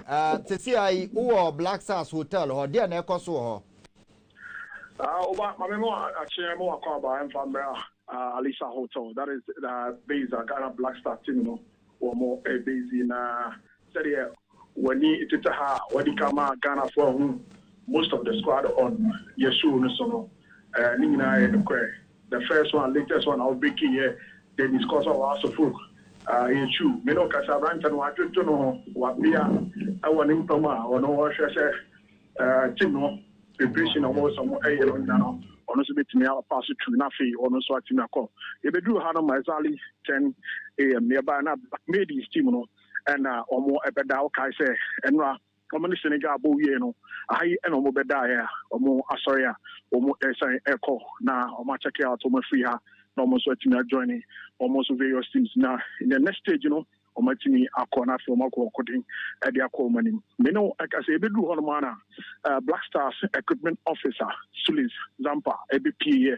Uh, sisi ayi wowɔ black stars hotel hɔ deɛ na ɛkɔ so wɔ hɔ woba ma me ma akyeɛ ma wakɔ aba ɛmfa mmerɛ a alisa hotel that is uh, base a ghana black star team no wɔ mo eh, base na sɛdeɛ w'ani tete ha a wadi ka ma ghanafoɔ ahu most of the squad on yɛsuo no so no eh, ne nyinaa yɛ nokorɛ The first one, latest one a wo break yɛ the discourse of our Sofok. Ah, ɛyɛ true. Me ne wo kasa, aberanteɛ no wɔadwodwo no ho, wabea ɛwɔ ne mpa mu a ɔno ɔhwɛ sɛ eh, team no preparation na wɔwɔ sɛ wɔn ɛyɛ no nyina no, ɔno nso bɛtumi apa so tu na afei ɔno nso atumi akɔ. Yɛbɛduru ha no ma exactly 10 am, yɛbaeɛ na Black Maidies team no ɛna wɔn ɛbɛda, wokae sɛ ɛnora Wɔne Senegal bɔ wiee no, ha yi na wɔbɛdaeɛ a wɔasɔre a wɔresan rekɔ na wɔakyɛke out wɔn afiri ha na wɔn nso atumi ajoine wɔn nso various teams na in the next stage no wɔatumi akɔ na afei wɔakɔ wɔakoden de akɔ wɔn anim. Me ne wo ɛka sɛ yɛbɛduru hɔnom ara na Black Stars equipment officer Sullins Zampa ɛbɛpueeɛ.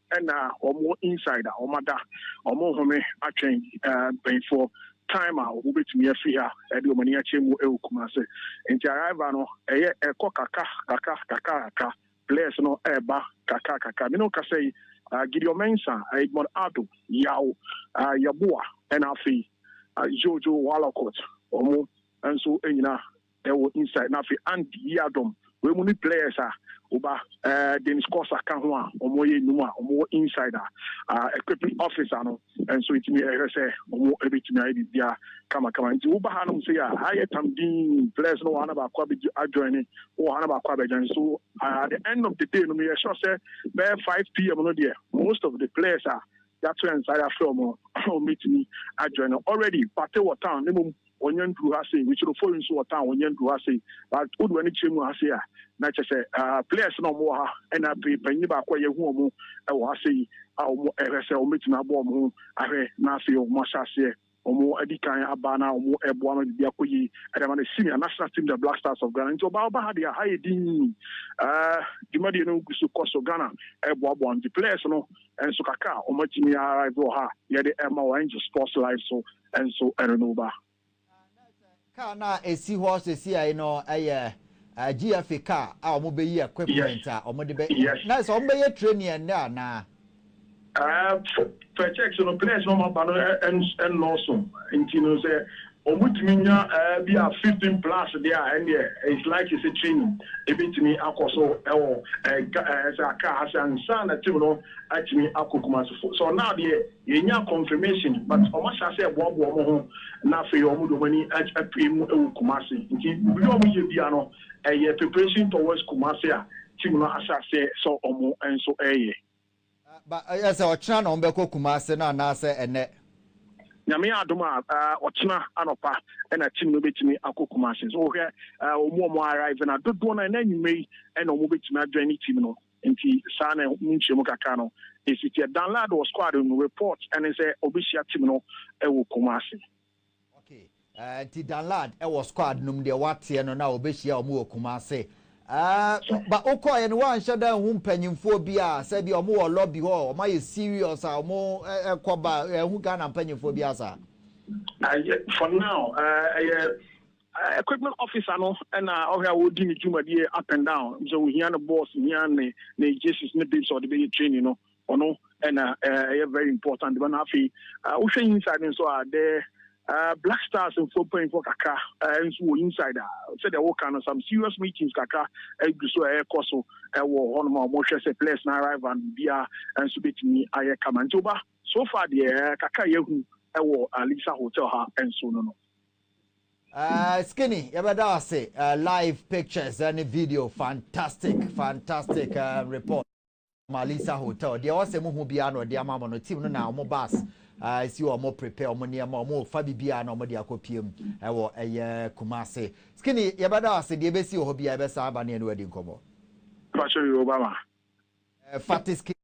Ɛna wɔn wɔ inside a wɔn ada wɔn nhome atwɛn mpanyinfoɔ time a wɔn bɛtumi afiri ha ɛde wɔn ani akyɛ mu ɛwɔ Kumasi nti arrival no ɛyɛ ɛkɔ kakra kakra kakra kakra players no ɛɛba kakra kakra me ne wo kasa yi Gideon Mensah Edmond Addo Yaw Yeboah ɛna afei Jojo Wallacott wɔn nso nyina wɔ inside na afei Ant Yiadom wei mu ne players a woba eh, Dennis Kosa ka ho a wɔn yɛ nnwuma a wɔn wɔ inside a ah, equipment officer no nso etumi ɛhwɛ sɛ wɔn ebetumi ayɛ biribi a kamakama nti woba ha nom sɛ yɛ a ayɛ tam din players no wɔ ha na baako abɛgye adjoin ne wɔ ha na baako abɛgyan so ah, at the end of the day no meyɛ sure sɛ bɛyɛ 5 pm no deɛ most of the players a Yɛato yɛn nsa yɛafrɛ wɔn a wɔbɛtumi ajoin no already Pate wɔ town na mmom wɔnnya nduru ha sei Witsoro Fori nso wɔ town wɔnnya nduru ha sei but wode w'ani kyerɛ mu ha sei a na kyerɛ sɛ players na wɔwɔ ha ɛna afei panyin baako a yɛahu wɔn wɔ ha sei a wɔhwɛ sɛ wɔbɛtumi abɔ wɔn ho ahwɛ na afei wɔahyɛ aseɛ Wɔn adi kan aba na wɔn ɛboa ama biribi akɔ yie ɛde ama no senior national team the black stars of Ghana nti ɔbaa ɔba ha deɛ aha yɛ din ɛɛ dwumadie no gu so kɔ so Ghana ɛboaboa nti players no nso kakra a wɔn atumi arrive wɔ ha yɛde ɛma wɔ angel sports live so nso ɛno no ba. Car no a ɛsi hɔ sesiai no yɛ GFA car a ɔmo bɛyi equipment a ɔmo de bɛ na sɛ ɔmo bɛyɛ training ɛnnɛ anaa? Fɛ checks no players no ɔmo aba no ɛnnɔɔso nti no sɛ ɔmo tumi nya bi a fifteen plus deɛ a ɛnneɛ it's likely sɛ training ɛbɛtumi akɔ so ɛwɔ car ase ansa na team no atumi akɔ Kumasi for now deɛ. Yɛnyaa confirmation but wɔn asan sɛ ɛboaboa wɔn ho na afei wɔn de wɔn ani apue mu wɔ Kumasi nti biribi a wɔn yɛ biara no ɛyɛ preparation towards Kumasi a team no ahyɛ aseɛ sɛ wɔn nso ɛyɛ. Ba ɛyɛ sɛ ɔkyena na wɔn bɛkɔ Kumasi no anaasɛ ɛnɛ? Nyame adom a ɔkyena anɔpa ɛna team no bɛtumi akɔ Kumasi so wohwɛ wɔn a wɔn arrive no a dodoɔ no ara ɛnɛ anwummerɛ yi ɛna wɔn bɛtumi adwane team no. Nti saa na ɛho nkyerɛmu kakra no si teɛ. Danlad wɔ squad no mu. Report ne sɛ ɔbɛhyia team no wɔ Kumasi. Ok, nti Danlad wɔ squad no mu deɛ woateɛ no na ɔbɛhyia wɔn wɔ Kumasi. Ɛɛh, but wokɔeɛ no woanhyɛ da anhu mpanyinfoɔ biara sɛ ebia wɔn wɔ lobby hɔ, wɔn ayɛ serious a wɔn kɔ ba, anhu Ghana mpanyinfoɔ biara saa? For now, ɛyɛ Equipment officer no na ɔhwɛ a ɔdi ne dwumadie up and down, sɛ ɔhia no boss hia ne ne Jesis ne bibs a ɔde bɛyɛ training no ɔno na ɛyɛ very important ba no afei wohwɛ inside nso a the Black Stars mfoɔ mpanyinfoɔ kakra nso wɔ inside a sɛdeɛ woka no some serious meetings kakra gu so a ɛrekɔ so wɔ hɔnom a wɔhwɛ sɛ players no arrival no biara nso bɛtumi ayɛ kama nti woba so far deɛ kakra yɛahu wɔ Alisa Hotel ha nso no no. Eh skinny yɛbɛda wo ase eh live pictures eh, ne video fantastic fantastic eh report Malisa hotel deɛ ɛwɔ sɛ mo hu biara na ɔde ama mo no team no na wɔn bus eh si wɔn prepare wɔn nneɛma wɔn fa bibiara na wɔn de akɔ pm ɛwɔ ɛyɛ Kumasi skinny yɛbɛda wo ase deɛ ɛbɛsi wɔ hɔ biara yɛbɛsan aba ne ɛne wadi nkɔmɔ. Pacho Yoruba ma. Eh fati skinny.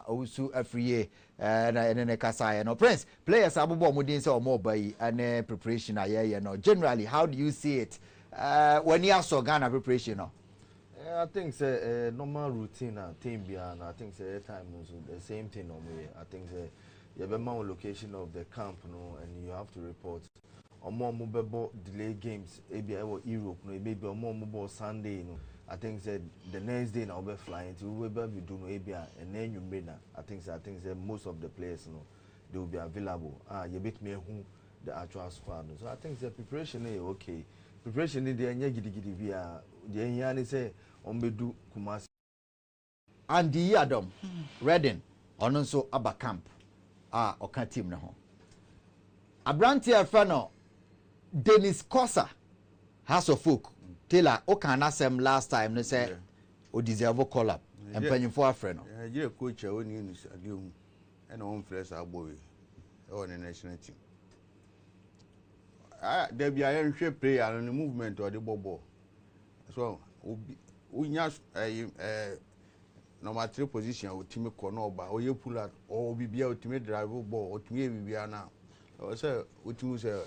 Owusu Afriyie na yɛne no kasaeɛ no. Prince, players abobɔ wɔn din sɛ wɔreba yi ne preparation a yɛreyɛ no. Generally, how do you see it? W'ani asɔ Ghana preparation no? I think sɛ ɛyɛ normal routine a team biara no, I think sɛ ɛyɛ time no nso the same thing na wɔyɛ. I think sɛ yɛbɛma wo location of the camp no and you have to report. wɔn a wɔbɛbɔ delay games ebi a ɛwɔ Europe no ebi a wɔn a wɔbɔɔ Sunday no I think sɛ the next day na wɔbɛ fly nti wobɛba abɛdu no ebi a ɛnɛ anwummere na I think sɛ I think sɛ most of the players no they will be available a yɛbɛtumi ahu the actual squad no so I think sɛ preparation no yɛ okay preparation no deɛ ɛnyɛ gidigidi biara deɛ ɛhia ne sɛ wɔbɛdu Kumasi. Andy Yiadom Redding, ɔno nso aba camp a ɔka team no ho. Aberante a ɛfɛ no Dennis Kosa, Hearts of Oak, Taylor, wokaa n'asɛm last time no sɛ ɔdeserve call up, mpanyimfoɔ afrɛ no. Nigeria coach a ɔnni anisoadeɛ hu ɛna ɔmfrɛ saa bɔ wei ɛwɔ ne national team. Ah, dabi a yɛnhwɛ player no ne movement ɔde bɔ bɔɔl. So obi wonya ɛyi ɛɛ number three position a otumi kɔ na ɔba ɔyɛ pull out ɔwɔ biribi a otumi drive bɔɔl otumi yɛ biribi a na ɔwɔ sɛ otumi sɛ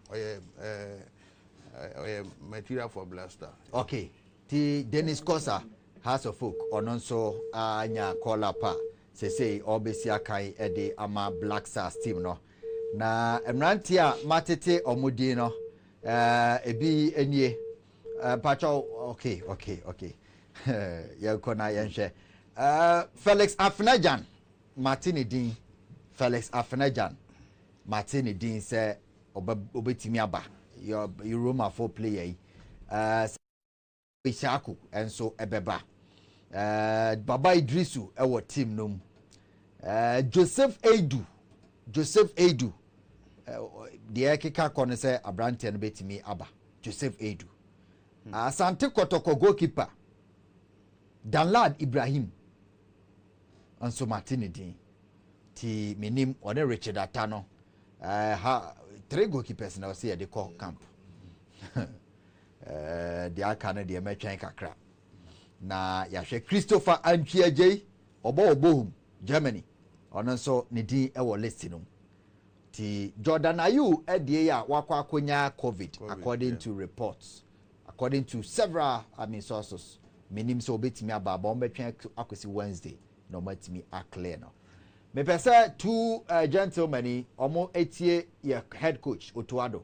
ɔyɛ ɛɛ ɔyɛ material for blaster. okay ti dennis kosa house of folk ɔno nso anya call up a sesei ɔrebɛsi akan de ama black stars team no na mmeranteɛ a matete ɔmo din no Eh, ebi nie. Eh, mpakyɛw, okay, okay, okay. Yɛnkɔ na yɛnhwɛ. Eh, Felix Afenagyan, mate ne din. Felix Afenagyan, mate ne din sɛ ɔbɛtumi aba. Yɛ Roma fo player yi. Eh, Issahaku nso bɛba. Ɛɛ Baba Idrisu wɔ team no mu. Ɛɛ Joseph Eidu, Joseph Eidu. Deɛ ɛkeka kɔ no sɛ aberanteɛ no bɛtumi aba. Joseph Eidu. Hmm. Asante Kɔtɔkɔ goalkeeper. Danlad Ibrahim. Nso mate ne din. Ti menim ɔne Richard Ata no. Ɛɛ ha three goalkeepers na ɔsɛ yɛde kɔ camp. Ɛɛ, deɛ aka no deɛ mɛtwɛn kakra na yɛahwɛ. Christopher Antwi Agyei, ɔbɔ wɔ Bochum, Germany, ɔno nso ne din wɔ list no mu. Nti Jordan Ayew adie yi a wakɔ akɔnya Covid according to reports, according to several I mean sources, menim sɛ ɔbɛtumi aba aba, wɔbɛtwɛn akɔsi Wednesday na wɔatumi aclear no. Mepɛ sɛ two uh, gentlemen yi wɔn atie yɛ head coach Otuado.